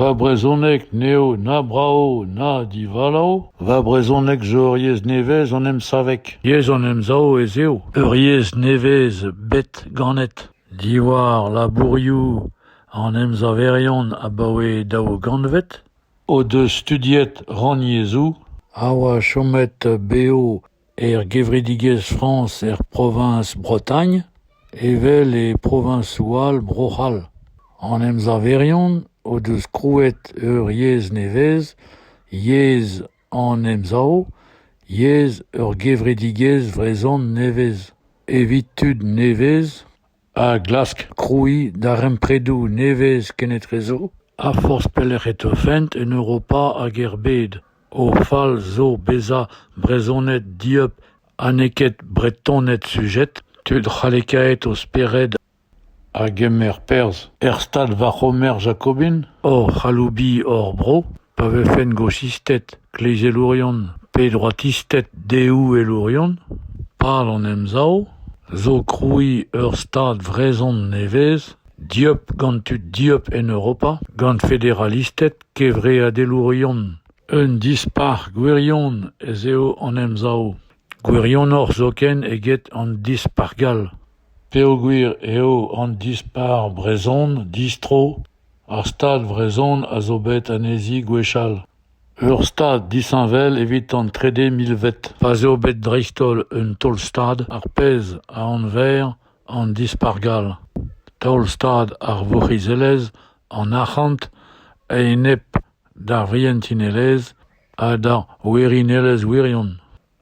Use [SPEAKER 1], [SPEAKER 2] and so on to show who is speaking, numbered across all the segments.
[SPEAKER 1] Va brezhoneg n'eo na brav na divalav. Va brezhoneg zo ur yezh nevez en em saveg. Yezh an Emsav ez eo, ur yezh nevez bet ganet. Diwar labourioù an emsaverion abaoe daou gantved o deus studiet rannyezhoù a oa chomet bev Er gevredigezh Frañs er proviñs Bretagne evel e proviñsoù all Bro-C'hall an emsaverion o deus krouet ur yezh nevez yezh an emsav yezh ur gevredigezh vrezhon nevez evit tud nevez a glask krouiñ darempredoù nevez kenetrezo ha forzh pelec'h e teufent en Europa hag er bed. O fal zo bezañ Brezhoned dieub ha n'eo ket Bretoned sujet, tud c'hallekaet o spered a gemer perzh er stad war c'homer jakobin, hoc'h aloubiñ hor bro. Pa vefent gosisted, klezelourion pe droatisted deouelourion, pal an Emsav zo krouiñ ur stad vrezhon nevez dieub gant tud dieub en Europa, gant federalisted, kevreadelourion. Un dispac'h gwirion ez eo an Emsav, gwirionoc'h zoken eget an dispac'h gall, peogwir eo an dispac'h brezhon distro Ar Stad vrezhon a zo bet anezhi gwechall ur Stad disheñvel evit an trede milved pa 'z eo bet dreist-holl un taol-Stad ar pezh a anver an Dispargall Taol-Stad ar vourc'hizelezh, an arc'hant a-enep d'ar vrientinelezh ha d'ar werinelezh wirion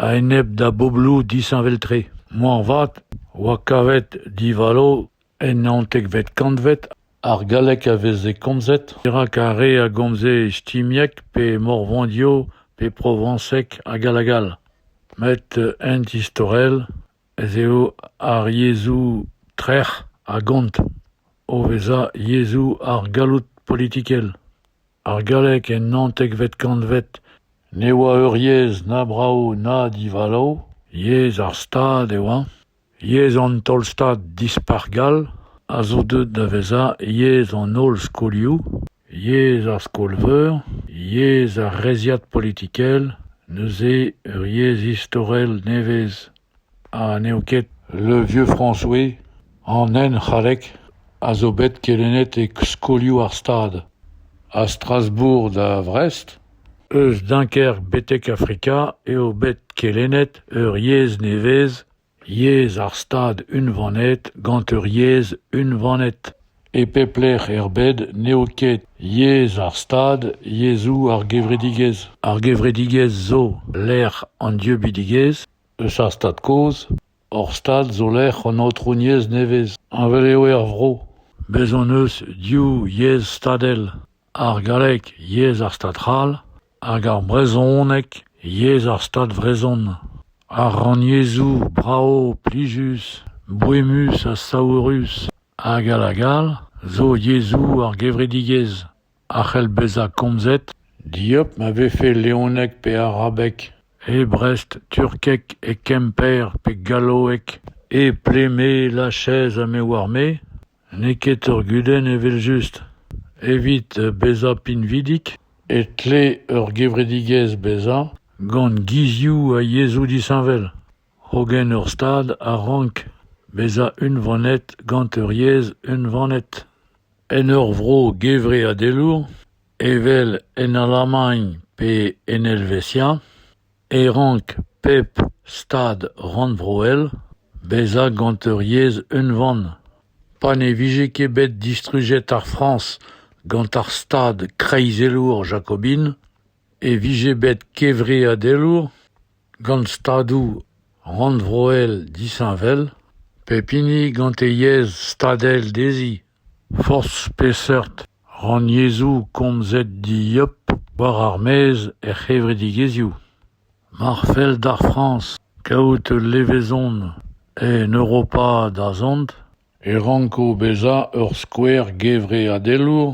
[SPEAKER 1] a-enep da bobloù disheñvel-tre. Moarvat 'oa kavet divalo En naontekvet kantved ar galleg a veze komzet dirak ar re a gomze istimieg pe morvandio pe provañseg ha gall-ha gall. Met ent istorel ez eo ar yezhoù trec'h a gont o vezañ yezhoù ar galloud politikel. Ar galleg en naontekvet kantved ne oa ur yezh na brav na divalav, yezh ar Stad e oa. Yezh an Taol-Stad Dispac'h gall a zo deuet da vezañ yezh an holl skolioù, yezh ar skol-veur, yezh ar reizhiad politikel, neuze ur yezh istorel nevez ha n'eo ket Le Vieux François an henc'hallek a zo bet kelennet e skolioù ar Stad, a Strasbourg da Vrest. Eus Dunkerque betek Afrika eo bet kelennet ur yezh nevez, yezh ar Stad unvanet gant ur yezh unvanet. E pep lec'h er bed n'eo ket yezh ar Stad yezhoù ar gevredigezh. Ar gevredigezh zo lec'h an dieubidigezh eus ar Stad kozh. Hor Stad zo lec'h an aotrouniezh nevez. Heñvel eo er vro. Bez' hon eus div yezh stadel. ar galleg yezh ar Stad c'hall hag ar brezhoneg yezh ar Stad vrezhon. Ar rannyezhoù brav, plijus, boemus ha saourus hag all hag all zo yezhoù ar gevredigezh a c'hell bezañ komzet dieub ma vefe leoneg pe arabeg, e Brest, turkeg e Kemper pe galloeg, e Pleme, Lachez ha me 'oar-me. N'eo ket ur gudenn evel-just. Evit bezañ pinvidik e tle ur gevredigezh bezañ gant gizioù ha yezhoù disheñvel, hogen ur Stad a rank bezañ unvanet gant ur yezh unvanet. En ur vro gevreadelour, evel en Alamagn pe en Helvetia, e rank pep stad rannvroel bezañ gant ur yezh unvan pa ne vije ket bet distrujet ar Frañs gant ar stad kreizelour jakobin e vije bet kevreadelour gant stadoù rannvroel disheñvel pep hini gant e yezh stadel dezhi Forzh peseurt rannyezhoù komzet dieub war ar maez er c'hevredigezhioù mar fell d'ar Frañs kaout ul levezon en Europa da zont e ranko bezañ ur skouer gevreadelour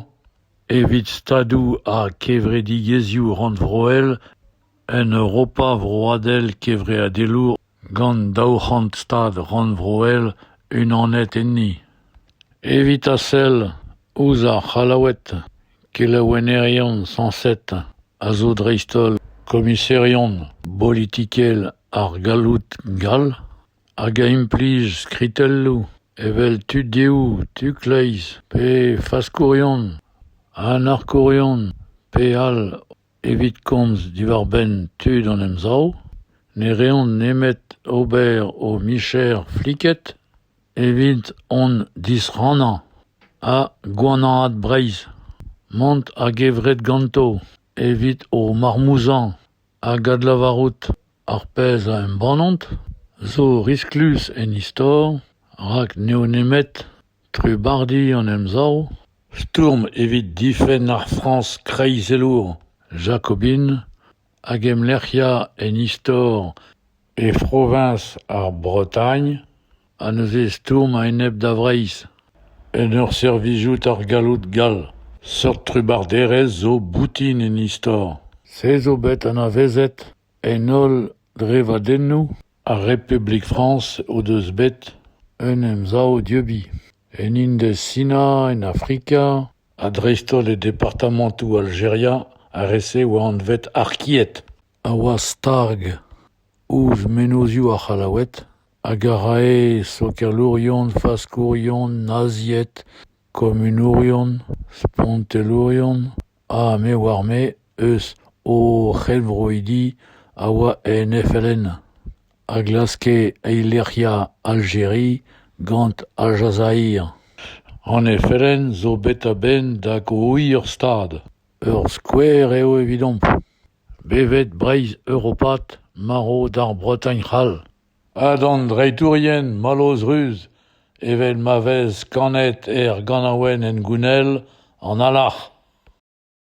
[SPEAKER 1] evit stadoù ha kevredigezhioù rannvroel en Europa vroadel kevreadelour gant daou c'hant stad rannvroel unanet enni evit a sell ouzh ar c'hallaoued kelennerien sañset a zo dreist-holl komiserion bolitikel ar galloud gall hag a implij skritelloù evel tudioù tu-kleiz pe faskourion anarkourion pe all Evit komz diwar-benn tud hon emsav, ne reont nemet ober o micher fliket evit hon disrannañ ha gwanaat Breizh, mont a-gevret ganto evit o marmouzañ hag adlavarout ar pezh a embannont, zo risklus en istor rak n'eo nemet Trubardi an Emsav stourm evit difenn ar Frañs kreizelour jakobin hag emlec'hiañ en istor e froviñs ar Bretagne ha neuze stourm a-enep da Vreizh. En ur servijout ar galloud gall, seurt trubarderezh zo boutin en istor. Se zo bet anavezet En holl drevadennoù ar Republik Frañs o deus bet un emsav dieubiñ, en Indez-Sina, en Afrika ha dreist-holl e departamantoù Aljeria ar re-se a oa anvet Arkied a oa stag ouzh mennozioù ar C'hallaoued hag a rae sokialourion, faskourion, nazied, komunourion, spontelourion. Ha me oar-me eus o c'helvroidi a oa en FLN a glaske eilec'hiañ Aljeri gant Al Jazair. An FLN zo bet a-benn da grouiñ ur stad. Ur skouer eo evidomp. Bevet Breizh europat marv d'ar Bretagne c'hall. Ha d'an dreitourien, mallozh ruz, evel ma vez kanet er ganaouenn hengounel, an alarc'h.